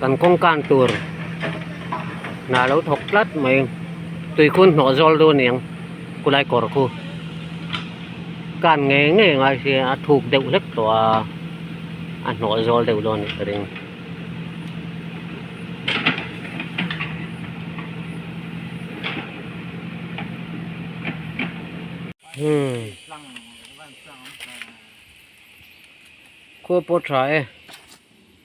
Kan kawngkan tur hna lo thawk tlat mai tuikhun hnawh zawl dawn eng kulai kawr khu kan ngei ngei ngai si a thuk deuh hlek tawh a a hnawh zawl deuh dawn nih ka ring hmm khaw pawh tha e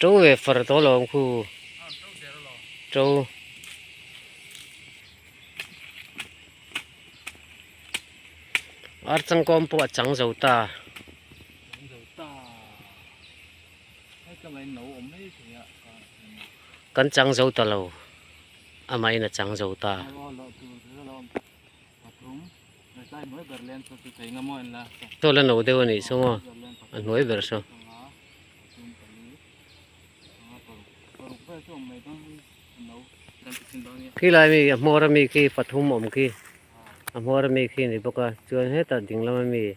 Ṭo ve far tawh lo ang khu. Ṭo. Ar changkawm pawh a chang zo ta. Chang zo ta. Hei tlangah in lo awm mai thei a. Kan chang zo ta lo. Amahin a chang zo ta. Alo awm ta. Pathum. Chaw la no deuh a nih chu maw? A hnuai ber chaw. Khi lai mi a hmawr ami khi pathum awm khi a hmawr ami khi a ni bawk a chuan hetah ding lam ami--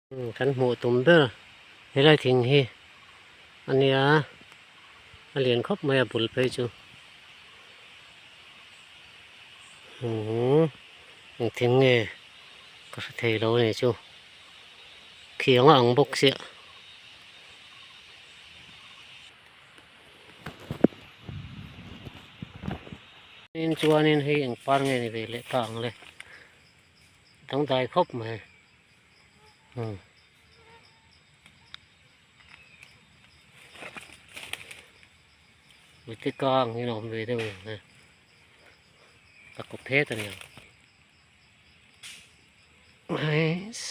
Kan hmuh tum ber helai thing hi a nia a lian khawp mai a bul phei chu umm thing nge ka hre thei lo a nih chu khiang a ang bawk sia in chuan in hei engpar nge ni ve leh ta ang le dangdai khawp mai. mite kang hi a awm ve deuh ang e a kawp phet a ni ang hais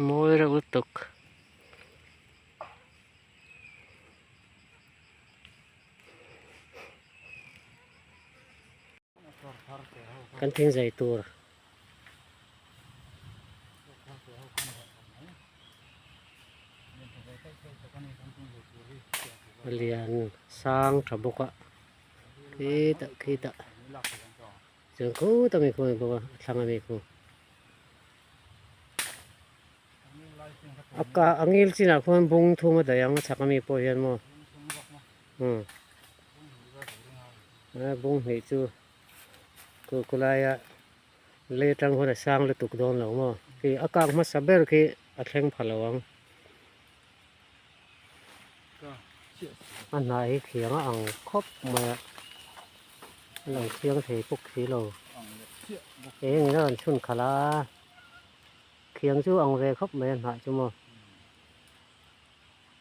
mawi reuh lutuk. kan thingzai tur. lian sang tha bawk a khi tak khi tak chuan khut a mi khuh a ni bawk a a thlang a mi khuh a ka a ngil chinah khuan bung thum a daih ang a chhak a mi pawh hian maw hmm a bung hnih chu-- Chu khulaia lei tang hun a sang lutuk dawn lo maw? Khi a kak hmasa ber khi a thleng pha lo ang. A hnah hi khiang a ang khawp mai a, a lo thiang thei pawk si lo. Eng ila rawn chhun khalh a, khiang chu a ang ve khawp mai a hnah chu maw.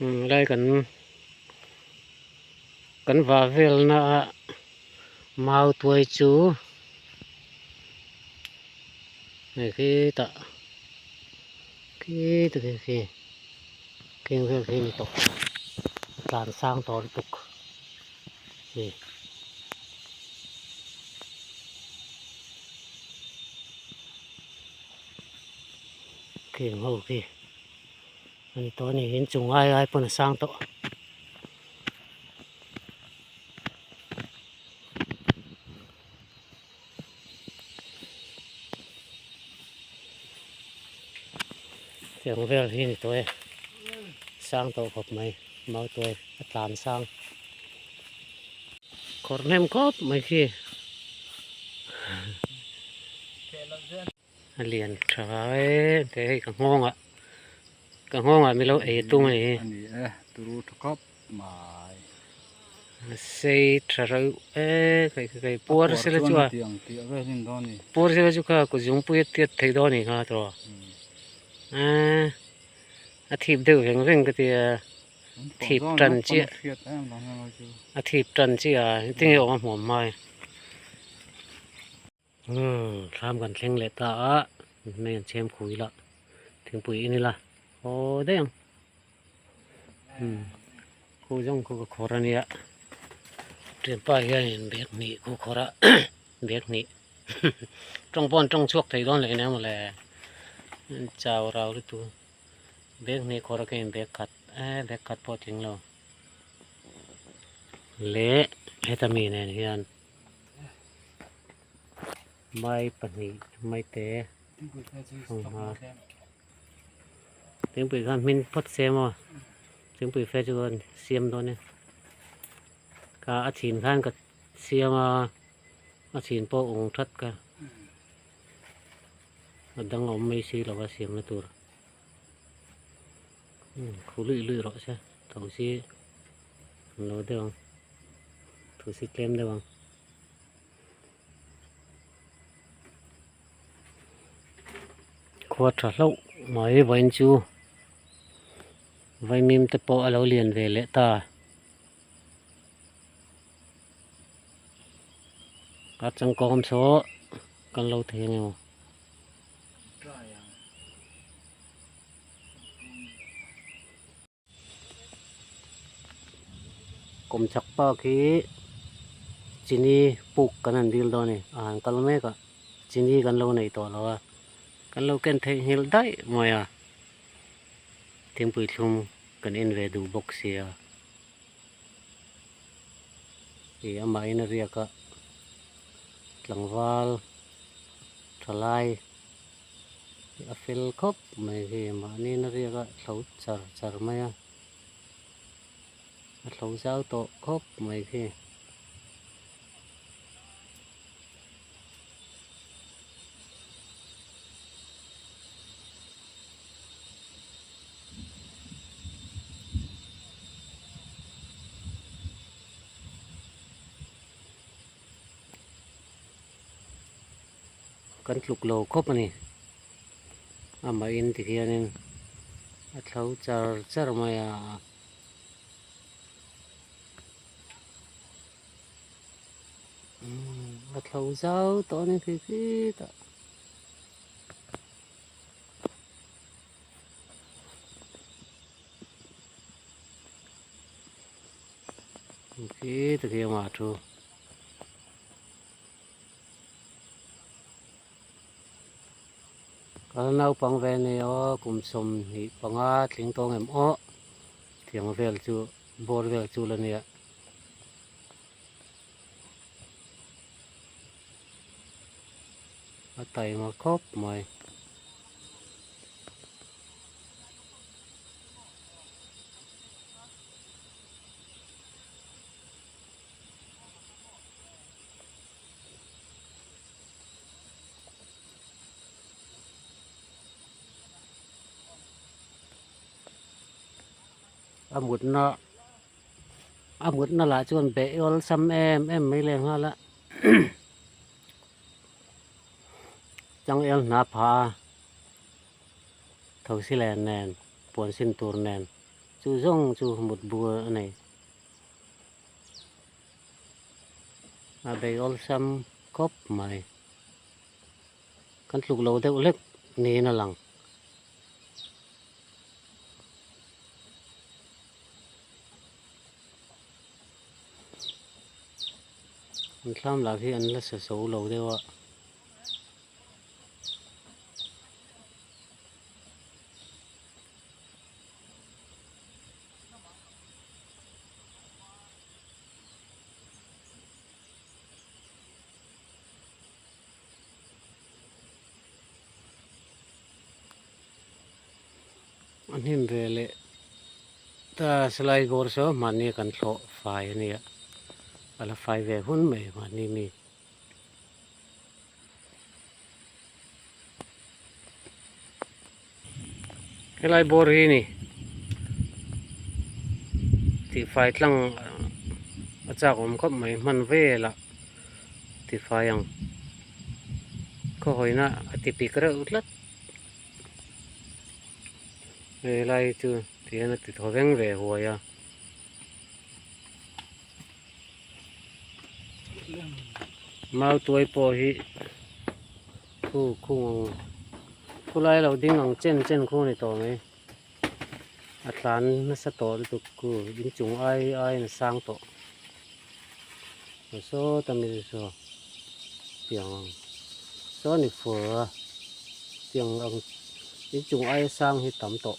Helai kan kan vah velna a mau tuai chu hei khi tah khi ta khi khi kheng vel khi a ni tawh a tlan sang tawh lutuk khi. a ni tawh a nih hian chung ai ai pawn a sang tawh chung vel hi a ni tawh e sang tawh khawp mai mau tuai a tlan sang khawrhnem khawp mai khi. A lian tha e engtih hei ka nghawngah ka nghawngah milo ei a tum anih hi. A ni e turu tha khawp mai. A sei tha reuh e kei ka kei puar se la chu a. Puar se la chu kha kut zung pui a tiat theih dawn anih kha tawh. A a thip deuh veng veng ka tia thip tan chiah a thip tan chiah a engtin nge awm a hmuam mai. thlam kan thleng leh ta a mai an chhem khuh ila thingpui in ila aw daih ang khu zawng khu ka khawr ania ṭhianpa hianin bag hnih khu khawr a bag hnih ṭawng pawh an ṭawng chhuak thei dawn leh ania mawle chau rau lutu bag hnih khawr akin bag khat e bag khat pawh tling lo leh heta mi nen hian mai pahnih mai te hrawng hma thingpui khan hmin phawt se maw thingpui fe chu an siam dawn e ka a chhin khan ka siam a a chhin pawh ung that ka a dang awm mai si lo a siamna tur. Thu luih luih rawh se, thosi an lo deuh ang, thosi tlem deuh ang. Khua tha hlauh mai vain chu, vaimim te pawh a lo lian ve leh ta. A changkawng awm saw kan lo thei ang emaw. kum chak park hi chini puk kan han dil dawn a ni a han kal mek a chini kan lo nei tawh lo a kan lo ken thei nghilh daih mai a thingpui thlum kan en ve duh bawk sia ih amah in a riak a tlangval thalai. A fel khawp mai hi mahni na riak a hlo char char mai a, a hlo zau tawh khawp mai khi. kan tluk lo khawp a ni amahin ti hianin a thlo char char mai a. a thlo zau tawh a ni khi khi ta. khi ta khi a thu. Kan naupang ve ni aw, kum sawm hnih panga tling tawng em awh, thiang vel chu bawr vel chu la nia. A time a khawp mai. a mutna a mutna lah chuan beih awlsam em em mai leh nghal a changel hna pha a thosi len nen puan sin tur nen chu zawng chu mut bur a nei. a bei awlsam khawp mai kan tluk lo deuh hlek niin a lang. An thlam lah khi an la sa so lo deuh a. an him ve leh ta silai gawr saw mahni kan thlawh fai a nia a la fai ve hun mai mahni mi. helai bawr hi ni tifai tlang a chak awm khawp mai hman velah tifai ang khawhawi na a ti pik reuh tlat helai chu tihian a ti thaw veng ve a huai a. mau tuai pawh hi khu khu khulai lo ding ang chen chen khu ni tawh mai a tlan nasa tawh lutuk khu in chung ai ai na sang tawh so tamil so tiang ang so ni fur a tiang ang in chung ai sang hi tam tawh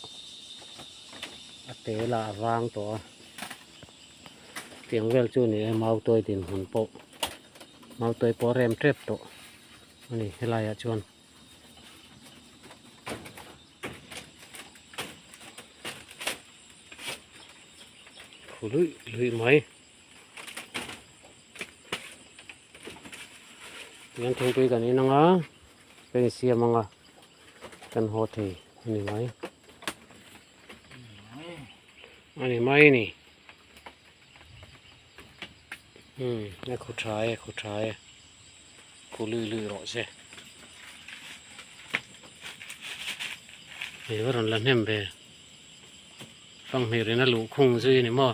a te lah a vang tawh a tiang vel chu ni e mau tawi din hun pawh mau tawi pawh a rem tep tawh a ni helai ah chuan khu lui lui mai tiang thingpui kan in anga kan in siam anga kan haw thei a ni mai a ni mai ni hmm a khu tha e khu tha e khu lui lui rawh se hei va rawn la hnem ve fanghmirin a luh khung zui a ni maw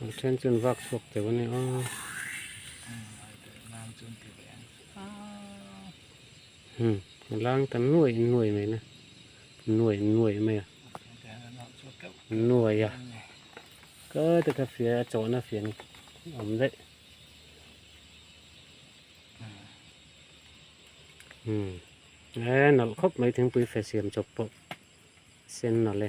An then chu an vak chhuak teuh a ni a. Hmm, a lang ta nuai nuai mai na. Nuai nuai mai a. Nuai a. Ka ta ka fia a chawh na fia ni. Om deh. Hmm. Eh, nalh khawp mai thingpui fe siam chawp pawh. Sen nalh e.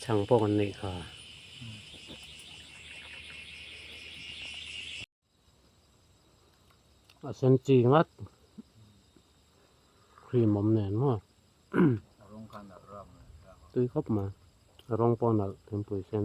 chhang pawh kan neih kha. A sen chi ngat cream awm nen maw rawng khan nalh rap mai tui khawp mai rawng pawh nalh thingpui sen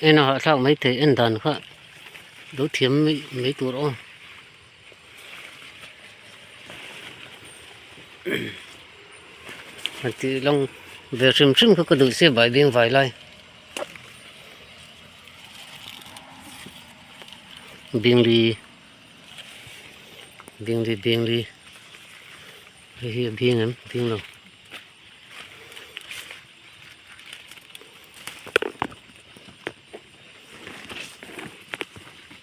eng a hahthlak mai thei en dan kha lo thiam mai tur aw. a ti long ve hrim hrim kha ka duh se bai beng vai lai bengri bengri bengri hei hi a beng em beng lo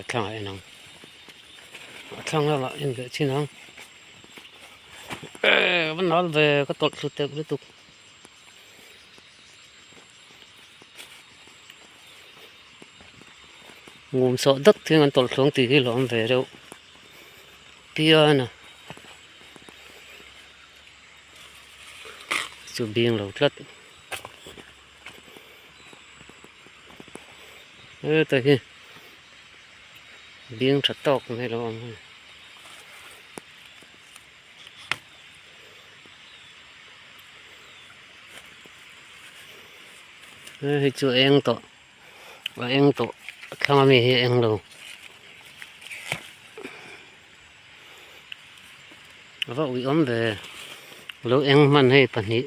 a thlangah a inang a thlang lamah a inbeh chin ang eehh va nal ve ka tawlh thlu tel lutuk ngum sawh dat thung an tawlh thlawng tih hi hlauhawm ve deuh piana chu bing lo tlat. heta hi bing tha tawk mai lo ang hi hei chu eng tawh a eng tawh thlang ami hi eng lo ava ui awm ve lo eng hman hei pahnih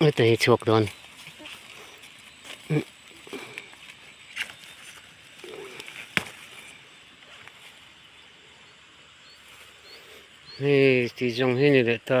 Ui ta hi chhuak dawn. Hei, ti zong hi ni leh ta.